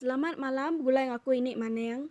Selamat malam begulai ngaku ini maning.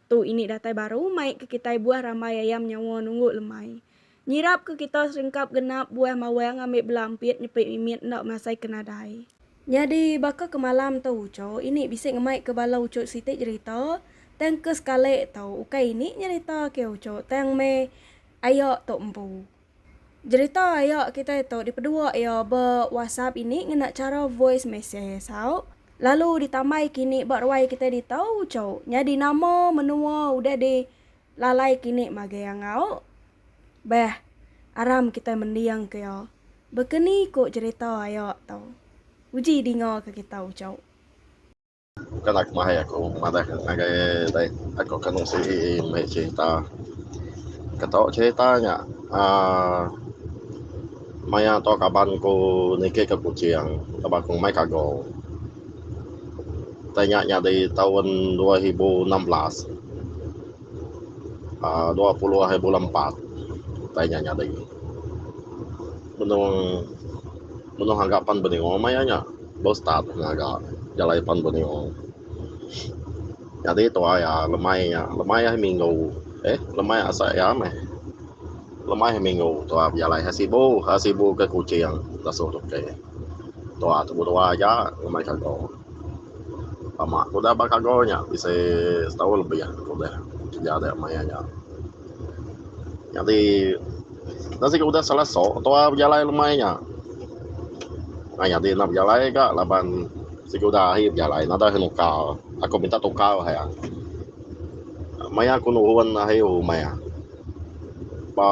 Tu ini datai baru mai ke kitai buah rambai ayam nyawa nunggu lemai. Nyirap ke kita seringkap genap buah mawang ngambi bela empit nyepi mimit enda masai ke nadai. Nyadi baka ke malam tu ucho ini bisi ngemai ke bala ucho siti jerita tang ke sekali tu ukai ini nyerita ke ucho tang meh aya tu empu. Jerita aya kitai tu dipedua iya ba WhatsApp ini ngena chara voice message sau lalu ditambai kini ba ruai kitai ditu uchu. Nyadi nama menua udah di lalai kini magai angau. Beh, aram kitai mending ke iya. Baka ni ku jerita aya tu. Uji dinga ke kita uchu. Bukanlah kemahai aku madah ngagai dai aku akan ngungsi meh cerita. Ke tau cerita nya aaa maya tu kaban ku niki ke Kuching laban ku mai kago. Utai nya nyadi taun dua ribu enam belas aaa dua puluh ari bulan empat utai nya nyadi. Benung. Menoh aga pan beneo maya nya bau start ngaga jalai pan beneo nyadi tuai a lemai nya lemai ahi minggu eh lemai asa iya meh lemai ahi minggu tuai bejalai ha sibu ha sibu ke kuching lasu tu ke tuai tubu dua aja ngemai ka go. Lama ku udah ba kago nya bisi setahun lebih ku udah kerja dia maya nya. Nyadi enda siku udah salah soo tua bejalai lemai nya. Ai nyadi enda bejalai ga laban siku udah ahi bejalai enda deh muka aku minta tuka uhai a. Maya ku nuhun ahi umai a ba.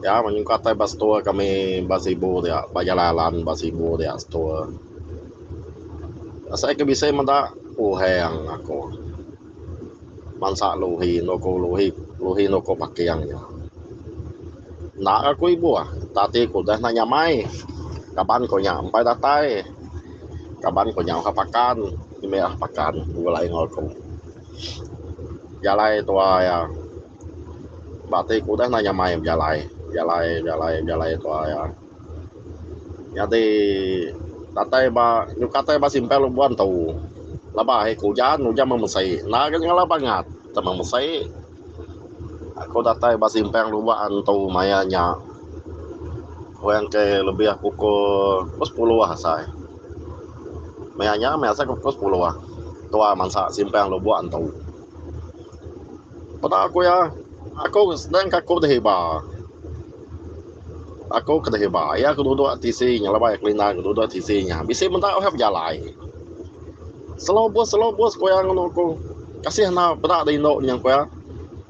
Ya menyuka tai ba store kami ba sibu dia ba Jalai Alan ba sibu dia store. Asai ke bisi meda puheng aku. Bansa Luhi enggau ku Luhi Luhi enggau ku Paking nya. Enda agei ku ibuh tak ati ku deh enda nyamai. Kaban ku nya empai datai. Kaban ku nya udah pakan ngumit udah pakan begulai enggau aku. Jalai tuai iya. Ba ti ku udah enda nyamai bejalai, bejalai bejalai bejalai tuwa iya. Nyadi datai ba nyuka datai ba simpang lok buan tu laba ahi ku ujan, ujan meh mesi. Enda gak nyalau bangat tau meh mesi. Aku datai ba simpang lok buan tu maya nya kurang ke lebih pukul sepuluh asai. Maya nya meh asai pukul sepuluh tuwa mansa simpang lok buan tu. Peda aku iya, aku senang ka ku deh iba. Aku ke deh iba, iya ke duduk tisi nya laban iya kelinda ke duduk tisi nya. Bisi meda uhai bejalai. Selo bus, selo bus ku iya ngenu aku. Kasih enda peda deh indu nya ku iya.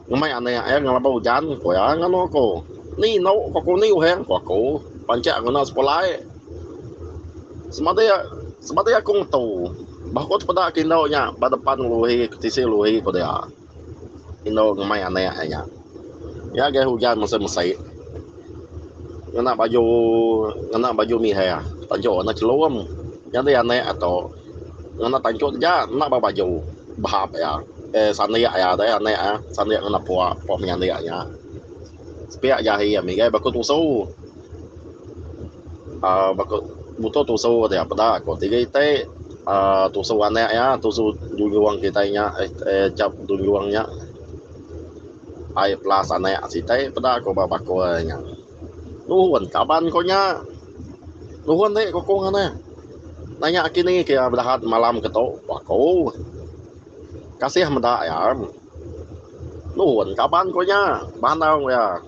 Ngemai anek iya ngelaba ujan ku iya ngenu aku. Ni indu ku aku, ni uhai ku aku. Panchak ngena sekula ai. Semadi semadi aku ngetu bah ku tepeda ke indu nya ba depan lori ke tisi lori ku dia indu ngemai anak iya nya. Iya agei ujan mesai mesai ngena baju ngena baju mireh tanchok warna chelum nyadi anak iya tu ngena tanchok taja enda ba baju bahap iya eh sandik iya tu anak iya sandik ngena puak puak menyandi iya nya. Sepiak jahi ami gai baku tusu. Uh, baku mutu tusu ti peda aku tiga iti uh, tusu anak ya tusu dunjung kita nya eh, eh cap dunjung nya ai plus anak siti peda aku ba baku nya nuhun kaban ko nya nuhun ti ko kong ana nanya kini ke bedahat malam ketu baku kasih meda ya Nun, kaban ko nya. Bandar ko iya.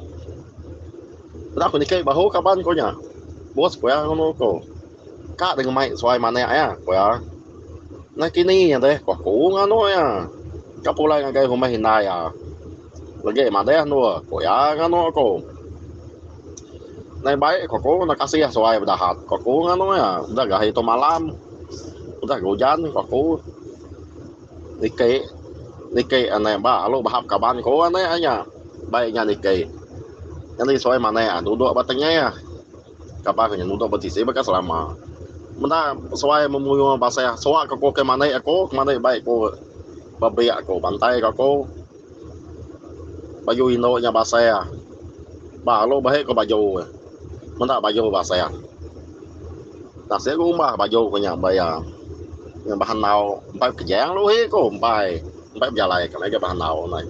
Udah ko niki bahu kaban ko nya. Bos ko iya ngunu ko. Ka deh ngemai suai manik iya, ko iya. Nakini deh ko aku nganu iya. Ka pulai ngagai rumah indai iya. Legi madeh endur, ko iya nganu ko. Nai bai ko aku nda kasih suai bedahat, ko aku nganu iya. Udah gahi tu malam. Udah ga ujan, ko aku. Niki niki anek ba lalu bahap kaban ku anek nya bai nya niki nyadi suai manek a dudok ba tengah kaban inya dudok ba sisi baka selama meda suai memuyuh baseh suak ke ku ke manik aku ke manik bai ku ba biak ku bantai ka ku. Baju indu nya basah. Ba alu bahi ku baju iya. Meda baju basah. Tasik ku umbah baju ku nya ba iya. Ngin bah andau empai bekejang uhi ku empai. Empai bejalai ka mega bah andau neh.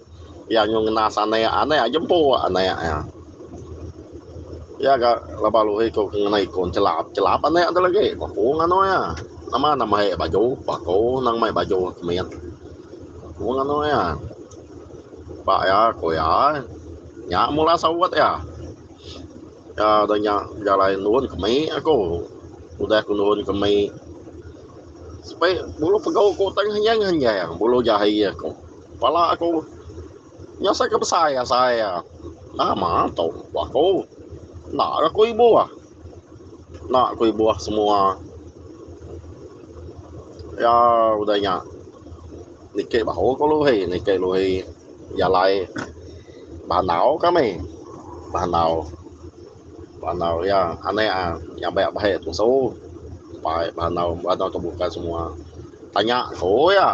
Iya nyuh ngenas anek, anek iya jempu anek iya. Iya ga laban uhi ku ngena ikun chelap. Chelap anek tu lagi. Bepung anok iya. Nama nang mai baju, bako nang mai baju kemit. Aku nganu iya. Ba iya aku iya. Nya mula saut iya. Iya udah nya bejalai nurun ke mei aku. Udah aku nurun ke mei. Sepi bulu pegau aku tang henjang-henjang bulu jahi aku. Pala aku nya asai ke besai asai iya. Nama tu ku aku. Enda ga ku ibu ah. Enda ku ibuh semua iya udah nya nitih bahu ku Luhi nitih Luhi jalai bandau kami bandau bandau iya anek a nyabe bahi tusu bai bandau bandau tebuka semua tanya ku iya.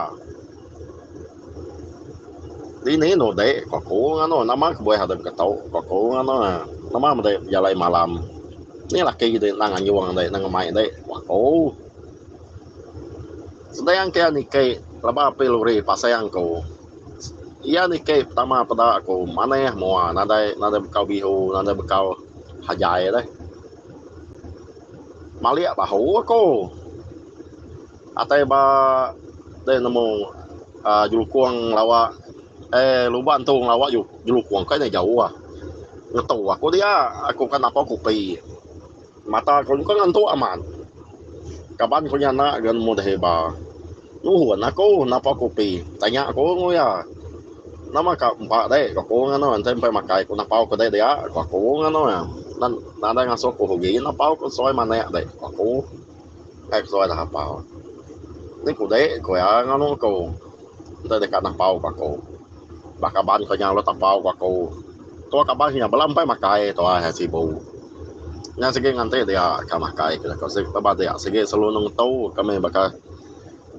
Dini enu ti ke aku nganu nama kebuah dep ke tau ke aku nganu na nama meda bejalai malam ni laki ti nang anjung ti nang ngemai ti ku aku sebiang ke iya niki laba api lori pasang ku iya niki pertama peda ku manah mua nadai nadai bekau biu nadai bekau hajai deh malik bahu aku. Atai ba deh nemu jelukong ngelawa eh luban tu ngelawa jelukong kai nya jauh ah. Ngetu aku dia aku ka napau kopi. Mata ku nyengkang ngantuk amat. Kaban ku nya enda ga nemu deh iba. Nuhun aku napau kopi tanya ku enggau iya. Nama ka empa dek ku aku nganu enti empai makai ku napau ku dek dia ku aku nganu iya. Nadai ngasuh ku ugi napau ku suai manek dek ku aku. Kai ku suai dihapau. Ni ku dek ku iya nganu ku. Enti deka napau ku aku. Ba kaban ku nya ulih tapau ku aku. Tua kaban ku nya bala empai makai tuai hai sibu. Nya sigi nganti dia ka makai ku aku sigi tauba dia sigi selalu nengetu kami baka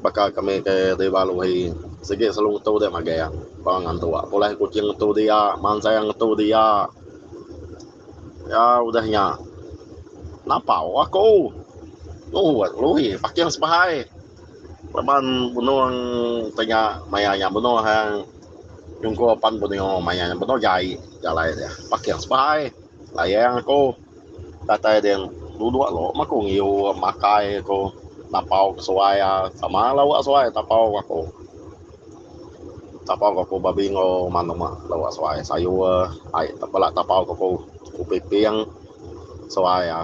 baka kami ke deba Lui. Sigi selalu ngetu dia mageng tang ngan tua. Pulai Kuching ngetu dia, Mansang ngetu dia. Ya udah nya. Napau aku. Nuhut Lui paking sebahai. Laban benung te nya maya nya benung he nyungkur pan benio maya nya benung jai jalai dia. Paking sebahai. Layang aku. Datai din duduk lo meh aku ngiu makai aku. Napau ke suai a. Sama lauk suai tapau aku. Tapau ke ku babi enggau manuk lok suai sayur ai bala tapau ke ku upiping suai a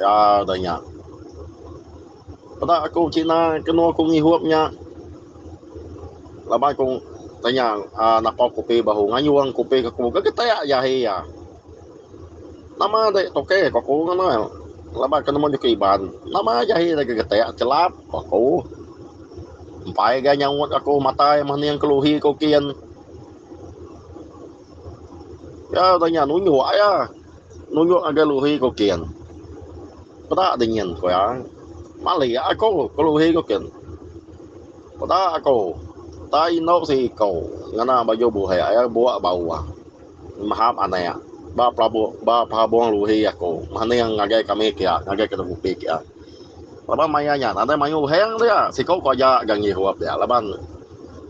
ya da nya peda ku kina kenu ku ngihup nya laban ku tanya napau kupi bahu ngayung kupi ke ku gegetek aja ahi a. Nama agi tokey ko aku ngena laban aku nemu nyuke Iban nama agi ahi deka getek chelap ko aku empai agi nyaut aku matai meh ning keluhi ku kin ya udah nya nunjuk aya nunjuk ngagai luhi ku kin peda dingin ku iya malik aku ke luhi ku kin peda aku tai endo siko ngena baju buhek aya buak bau. Mahap anak. Ba pelabu ba pehabong luhi aku maning ngagai kami kia ngagai ke ngupi kia. Laban maya nya nadai mayuh uheng dia. Siku ku aja ga ngihup dia laban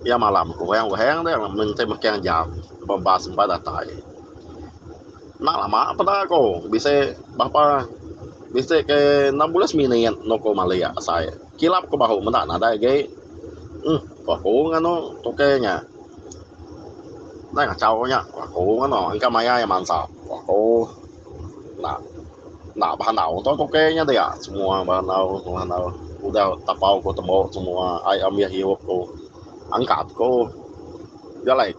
iya malam ku uheng uheng dia menti mekeng jam laban bas empat datai. Enda lama peda ku bisi berapa bisi ke enam bulan seminit no ku malik asai. Kilap ke bahu meda nadai agi. Huh ku aku nganu tukey nya. Nadai ngachau nya ku aku nganu engka maya iya mansap ku aku. Enda enda behandau tu tukey nya dia semua behandau behandau udah tapau ku tembu semua ai ambih hiup ku angkat ku nya alai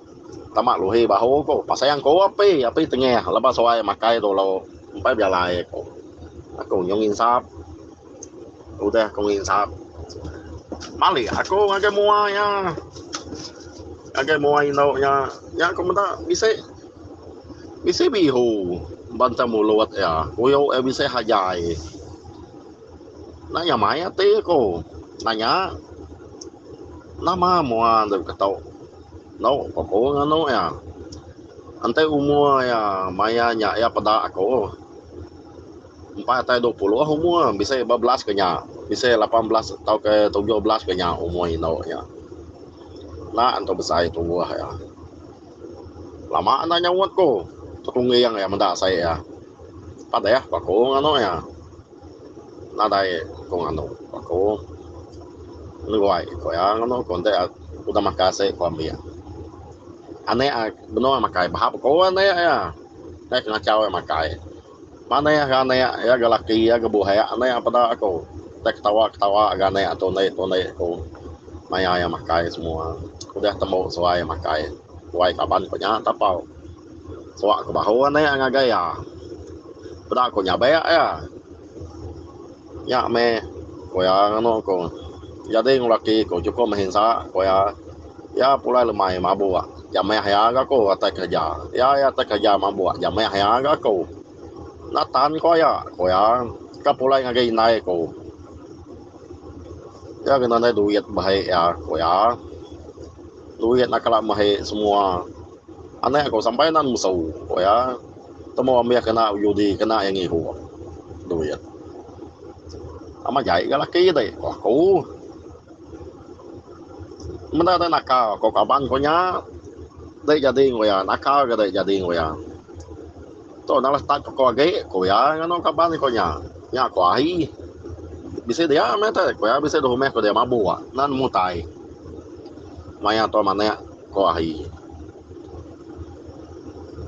tama luhi bahu ku pasang ku api api tengah lebuh suai makai dulu empai belai ku aku nyau nginsap. Udah aku nginsap. Malik aku ngagai mua iya. Ngagai mua indu iya. Iya aku meda bisi bisi bihu banta mulut iya. Kuyu iya bisi hajai. Enda iya mai ati aku nanya nama mua enda ketu. Endo pun aku nganu iya. Enti umur iya maya nya iya peda aku. empat atai dua puluh umur bisi ba belas ke nya bisi lapan belas tauka tujuh belas ke nya umur indu nya enda engka besai tuoh iya lama enda nyaut ku tetungging iya meda asai iya padeh pa aku nganu iya nadai ku nganu pa aku neguai ku iya nganu ku enti udah makai asai ku ambi anek iya benung makai bahap aku anek iya dei kengachau iya makai. Manah ga anak iya ga laki iya ga buhak anak peda aku udah ketawa ketawa ga anak tu enda tu enda ku maya iya makai semua udah tembu suai makai wai kaban ku nya tapau suak ku bahu anak ngagai iya peda ku nyabe iya. Nya meh, ku iya nganu aku. Nyadi enggau laki aku chukup meh insa, ku iya. Iya pulai lemai mabuk ja meh iya enggau aku atai kereja. Iya iya atai kereja mabuk ja meh iya enggau aku. Enda tan ku iya, ku iya. Ka pulai ngagai indai aku. Iya kena nadai duit bah ai iya, ku iya. Duit enda kala meh ai semua. Anak aku sampai enda nemesu, ku iya. Temu ambih kena bejudi kena iya ngihu duit. Amat jai ga laki ti ku aku. Meda dek naka ko kaban ko nya. Dek jadi enggau iya naka ga dek jadi enggau iya. Tu nalah start ko agi ku iya nganu kaban ko nya. Nya ko ai bisi dia meh ti ku iya bisi dua humeh ku dia mabuk nan mutai. Maya tu manek ko ai.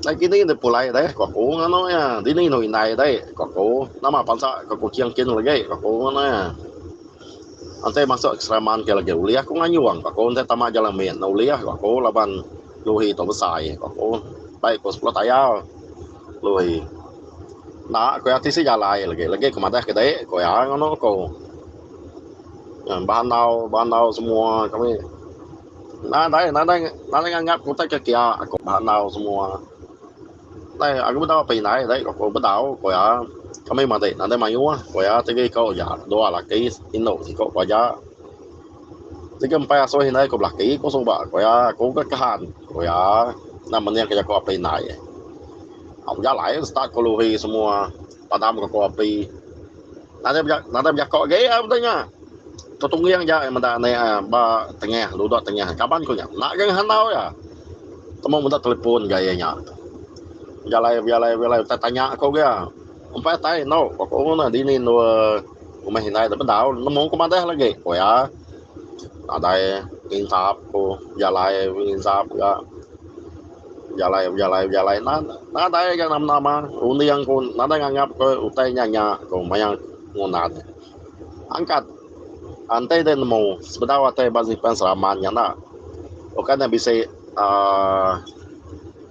Ai kini deh pulai deh ku aku nganu iya. Dini inu indai deh ku aku. Nama bansa ke Kuching kin legi ku aku nganu iya. Enti masuk ke seremban enti legi ulih aku ngayung ku aku enti tama Jalan Mit ne ulih ku aku laban Lui tu besai ku aku. Bai ku sepuluh tayau Lui. Enda ku iya tisi jalai legi, legi ku madah ke deh ku iya nganu ku. Ngau ba andau, ba andau semua kami. Nadai nadai nadai nganggap ku utai ke kia aku ba enau semua dai aku bedau apai indai dai ku aku bedau ku iya kami matik nadai mayuh ku iya tiga iko ja dua laki indu siko keluarga jegem empai asuh indai ku belaki ku suba ku iya aku ke Kahan ku iya enda mening ke jaku apai indai bejalai start ku Lori semua padam ke aku api. Nadai bejako agi a betu nya. Tu Tungging ja iya meda anek a ba tengah ludok tengah kaban ku nya. Enda geng handau iya. Temu meda telepon ga iya nya. Bejalai bejalai bejalai utai tanya ku ga iya. Umpai utai endo ku aku nguna dini endur rumah indai tu bedau nemu ku madah lagi ku iya. Nadai insap ku bejalai insap ga. Bejalai bejalai bejalai nan nadai ga nama nama runding pun nadai nganggap ke utai nya nya ko maya ngundan angkat enti deh nemu sebedau atai ba Zipan Seraman nya enda bukan nya bisi aaa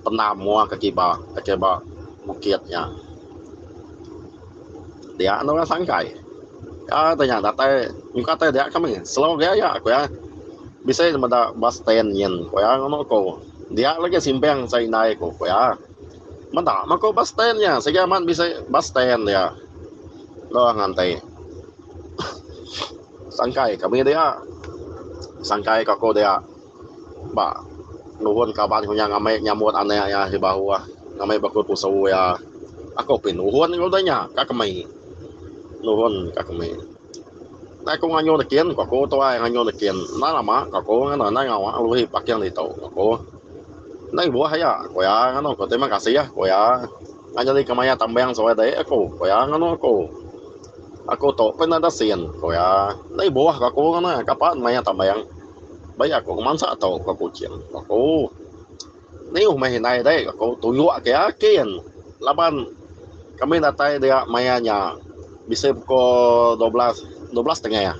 penam muah ka kiba ka kiba bukit nya dia enda orang sangkai ka tanya datai nyungka tai dia kami slow agi aya ku iya bisi meda bas stand nyin ku iya ngono ko. Dia lagi simpang sai indai ku pia. Meda mah ko bus stand nya sigi amat bisi bus stand dia. Loh nganti. Sangkai kami dia. Sangkai ka ko dia. Ba nuhun kaban ku nya ngambi nyambut anak iya di bawah ngambi baka pusu iya. Aku pin nuhun ku dia nya ka kami. Nuhun ka kami. Endai aku ngayuh nekin ku aku tuai ngayuh nekin endai lama ku aku ngena endai ngawa uruh paking ditu ku aku endai buah aya ku iya nganu ku terima kasih ku iya enda nyadi ke mayar tambang suai dek aku ku iya nganu aku aku tu pun enda ada sin ku iya endai buah ku aku ngena kapa mayar tambang bagi aku ke mansa tu ku aku cin ku aku. Nayuh meh indai deh aku tunjuk ke akin laban kami datai dia maya nya bisi pukul dua belas dua belas tengah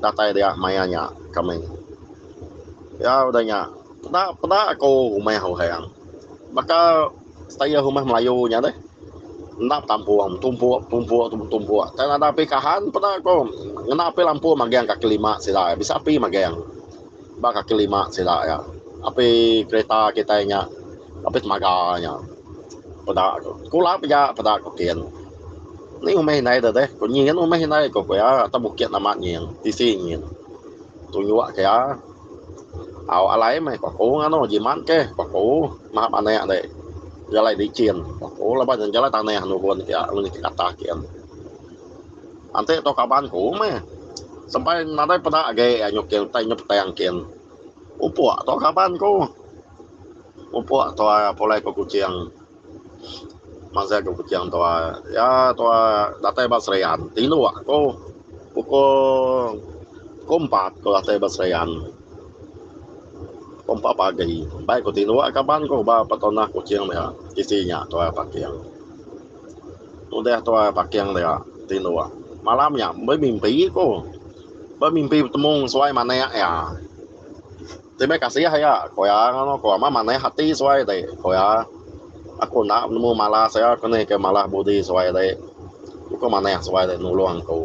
datai dia maya nya kami ya udah nya peda peda aku rumah orang baka style rumah melayu nya deh enda betampung tumpuk tumpuk tumpuk tang ada api kahan peda aku ngena api lampu magang kaki lima sida bisa api magang. Ba kaki lima sida iya. Api kereta kitai nya. Api temaga nya. Peda ku. Kula pia peda ku kin. Ni umih indai da deh. Ku nyin umih indai ku iya. Atas bukit nama nyin. Tisi nyin. Tunjuk ke iya. Au alai meh ku aku nganu. Jimat ke ku aku. Mahap anak dek. Jalai licin ku aku. Laban jalai tanah nugun ke iya. Nguni ti katah kin. Anti tu kaban ku meh. Sempai nadai peda agi iya nyuk kin utai nyuk tang kin. Upuk tu kaban ku. Upuk tu pulai ku Kuching. Masih ku Kuching tu iya tu datai ba Serian. Tinduk ku pukul pukul empat ku datai ba Serian. Pukul empat pagi. Baik ku tinduk kaban ku ba petonah Kuching meh tisi nya tu parking. Udah tuai paking dia ti dua malam nya bemimpi ku. Bemimpi betemu ngan suai manik iya. Ti meh kasih iya ku iya ngagai aku meh manah ati suai ti ku iya. Aku enda nemu malas iya ku nih ke malas budi suai ti. Ku manah suai ti nulung aku.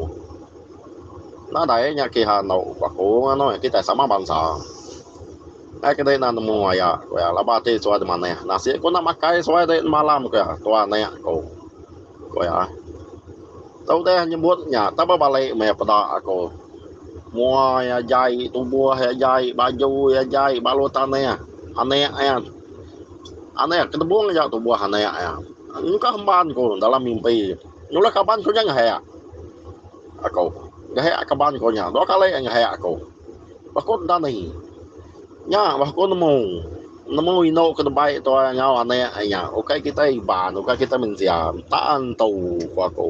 Nadai nya kiha enggau aku nganu iya kitai sama bansa. Ai ke dei enda nemu aya ku iya laban ati suai dimanah nasi ku enda makai suai dei nemalam ku iya tua anek ku ku iya. Tu udai nyebut nya tau ba balik meh peda aku mua iya jai tubuh iya jai baju iya jai balu tanah anek iya anek iya kedebung aja tubuh anek iya engkah emban ku dalam mimpi nyulah kaban ku nya ngehek aku ngehek kaban ku nya dua kali ngehek aku. Bah ku Dani, Nya bah ku nemu. Nemu indu ke nebai tuai enggau anak ai nya. Ukai kitai Iban, ukai kitai mensia. Enta entu, ku aku.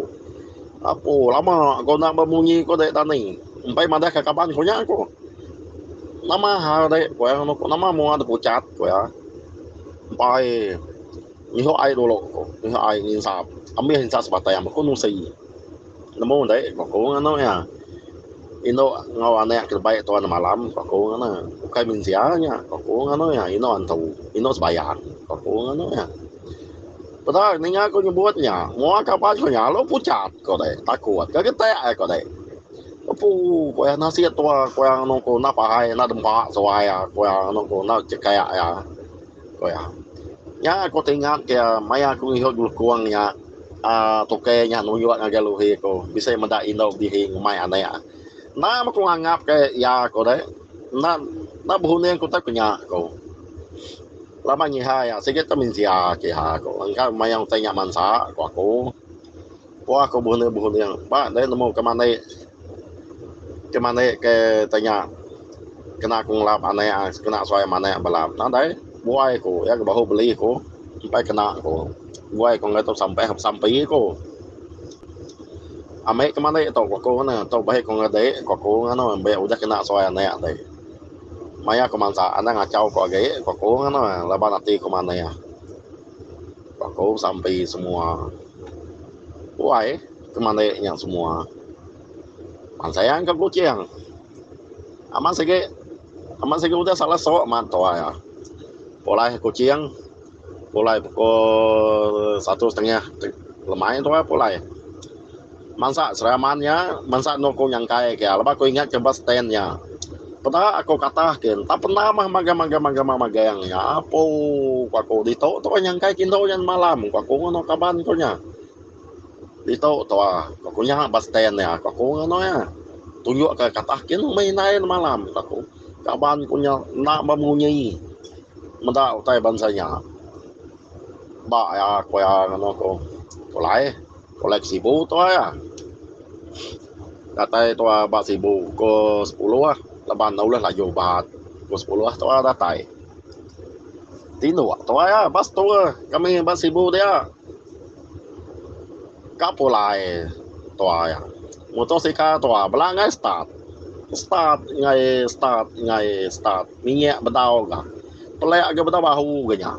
Apo lama ku enda bemunyi, ku dek Dani. Empai madahka kaban ku nya ku. Nama hal dek, ku iya ngenu ku. Nama mua dipucat, ku iya. Empai nyihup ai dulu, ku. Nyihup ai nginsap. Ambih insa sebatang, ba ku nusi. Nemu dei beku ngan anu nya. Indu enggau anak ke lebih tuan malam beku ngan ne. Ukai mensia nya beku ngan anu nya. Indu antu, indu sebayang beku ngan anu nya. Peda ninga ku nyebut nya. Mua kaban ku nya lalu pucat ku dei. Takut ka getek ai ku dei. Opu ku iya nasit tua ku iya enda pahai enda dempa suai iya ku iya enda chekak iya. Ku iya. Nya aku ti ingat ke maya aku ngihup julukung nya aaa tukai nya nunjuk ngagai Luhi ku bisi meda indu bihi ngumbai anek. Enda meh ku nganggap ke iya ku deh. Enda enda berunding ku tau ku nya ku. Laban nyiha iya sigi tu mensia kiha ku engka mayuh utai nya mansa ku aku. Pua aku buhuni buhuni ba deh nemu ke mandi ke mandi ke tanya kena aku ngelap anek kena suai ama anek bala nadai buai aku iya ke bahu beli aku empai kena aku buai aku ngagai tu sampeh besampi aku ambi ke mandi tu ku aku ngena tu bahi aku ngagai dik ku aku ngeno mbe udah kena suai anek ti maya aku mansa enda ngachau aku agi ku aku ngeno laban ati aku manih. Baka sampi semua. Wai ke manik nya semua. Man sayang ke Kuching. Amat sigi amat sigi udah salah sok man tuai ah. Pulai Kuching pulai pukul satu setengah lemai tuai pulai. Mansa seraman nya, mansa endur ku nyangkai ke laban ku ingat ke ba stand nya. Peda aku katah ke enta penda mah magang magang magang mah magang nya apu ku aku ditu tu ai nyangkai ke endur nya semalam ku aku nganu kaban ku nya. Ditu tu ah ku aku nya ba stand nya ku aku nganu iya tunjuk ke katah ke meh indai semalam ku aku. Kaban ku nya enda ba munyi meda utai bansa nya ba iya ku iya nganu ku. Tu lah eh. Kolai ke sibu tuai ah. Datai tuai ba sibu ko sepuluh ah laban enda ulih laju bat ko sepuluh ah tuai datai. Tinduk tuai ah ba setu ah kami ba sibu dia. Ka pulai tuai ah. Mutor sikal tuai bela angai start. Start angai start angai start minyak bedau ga. Pelek ga bedau bahu ga nya.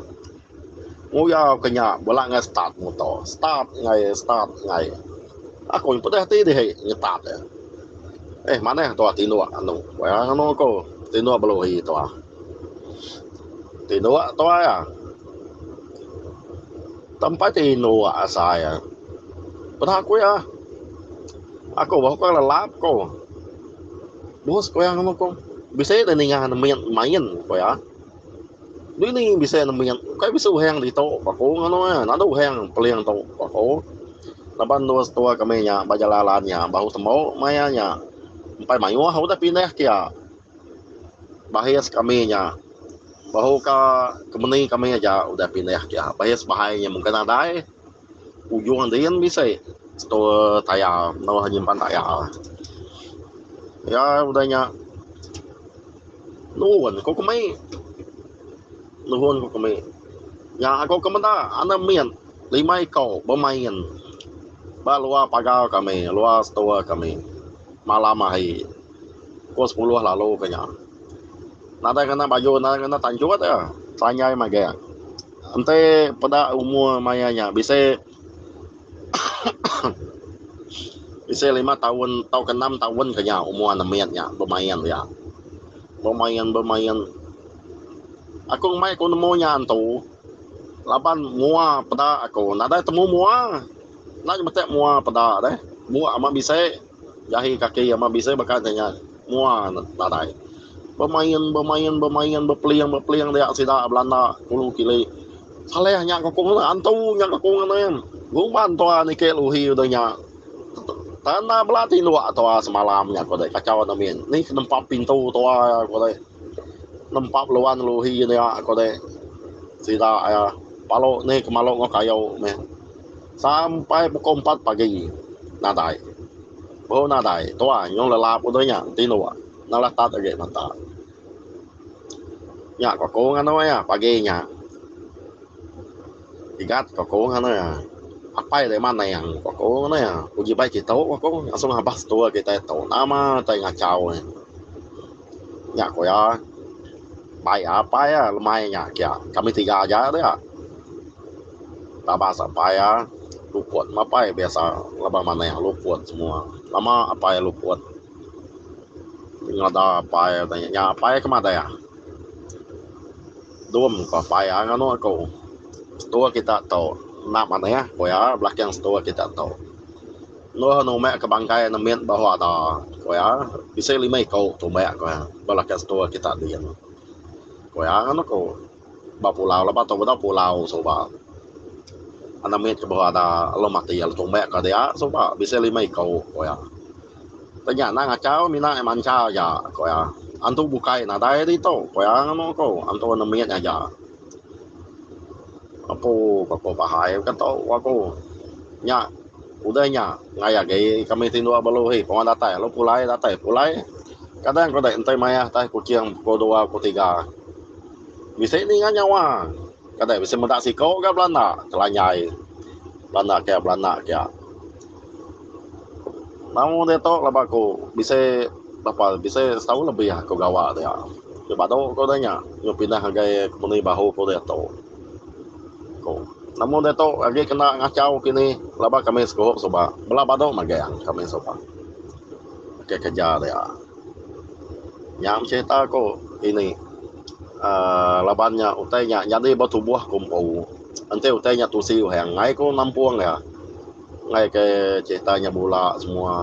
Nguyau ke nya bela ngai start muto. Start ngai start ngai. Aku nyen pedeh ati dihi nyetat e. Eh manah tuah tinduk anu pia anu aku tinduk belohi tuah. Tinduk tuah iya. Tempai tinduk asai iya. Peda ku iya. Aku bah ku lelap ku. Bos ku iya ngamu ku. Bisi deh ninga main main ku iya. Dini bisi nembiak ukai bisi uhang ditu ba aku nganu iya enda ada uhang peling tu ba aku laban dua setua kami nya ba Jalai Alan nya bahu tembu maya nya empai mayuh udah pindah kia bahis kami nya bahu ka kemeni kami aja udah pindah kia bahis bahai nya mungkin nadai. Ujung din bisi store tayar enggau nyimpan tayar. Iya udah nya nurun ku kemi nurun ku kemi nya aku ke meda ande mit lima iko bemain ba luar pagar kami luar store kami malam hari pukul sepuluh lalu ke nya nadai kena baju nadai kena tanjut iya tanjai magang. Enti peda umur maya nya bisi bisi lima taun tauka enam taun ke nya umur anak mit nya bemain iya. Bemain bemain aku ngumbai ku nemu nya antu laban mua peda aku nadai temu mua. Enda ke metek mua peda deh. Bua amat bisi. Jahi kaki amat bisi baka nyengat mua nadai. Bemain bemain bemain bepeling bepeling dia sida belanda kulu kili. Saleh nya ku kong antu nya ku kong ngening. Guman tua niki luhi udah nya. Tanda bela tinduk tua semalam nya ku deh kacau enda min. Ni ke nempap pintu tua ku deh. Nempap luan luhi dia ku deh. Sida iya palok ni ke malok enggau kayu meh. sampai pukul empat pagi nadai baru nadai tuai nyau lelap udah nya enti dua enda lah tat agi mata nya ko aku nganou iya pagi nya sigat ko aku nganou iya apai deh maning ko aku nganou iya uji bai kitu ko aku asal ngabas tua kitai tu nama kitai ngachau nya nya ko iya bai apai iya lemai nya kiya kami tiga aja dia. Tama sak paya luput mapai biasa laban manah luput semua lama apai luput ngada apai nya apai ke madah dum ko paya nganu ko setua kita tu enda manah ko iya belaking setua kita tu neh anu umek ke bangkai ne mit baru ada ko iya bisi lima iko tumba ko iya belaking setua kita diin ko iya nganu ko. ba pulau lebuh tu bedau pulau suba enam mit kebuah ada alun mati lalu tumbek ka dia suba bisi lima iko ku iya tapi nya anang achau mina iya mancha aja ku iya antu bukai nadai iri tu ku iya nganu ku antu enam mit aja apu pa ku bahai ka tu ku aku nya udah nya ngai agi kami ti dua belu hi pun datai lalu pulai datai pulai kadang ku dek ntoi mayah tai kuching pukul dua pukul tiga. Bisi ninga nyawa. Kade bisi meda siko ga belanda kelanyai belanda kiya belanda kiya. Tau ditu laban aku bisi berapa bisi setahun lebih aku gawa dia. Ti badu ku dia nya nyau pindah ngagai kompeni bahu ku ditu. Ku amun ditu agi kena ngachau kinih laban kami sikup suba bela badu magang kami suba. Ke kereja dia. Nya meh serita ku ini aaa laban nya utai nya nyadi ba tubuh ku empu enti utai nya tusi uhang angai ku nampung iya angai ke serita nya bula semua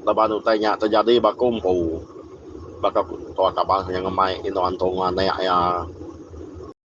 laban utai nya terjadi ba ku empu baka tua kaban inya ngemai inu antung anek iya.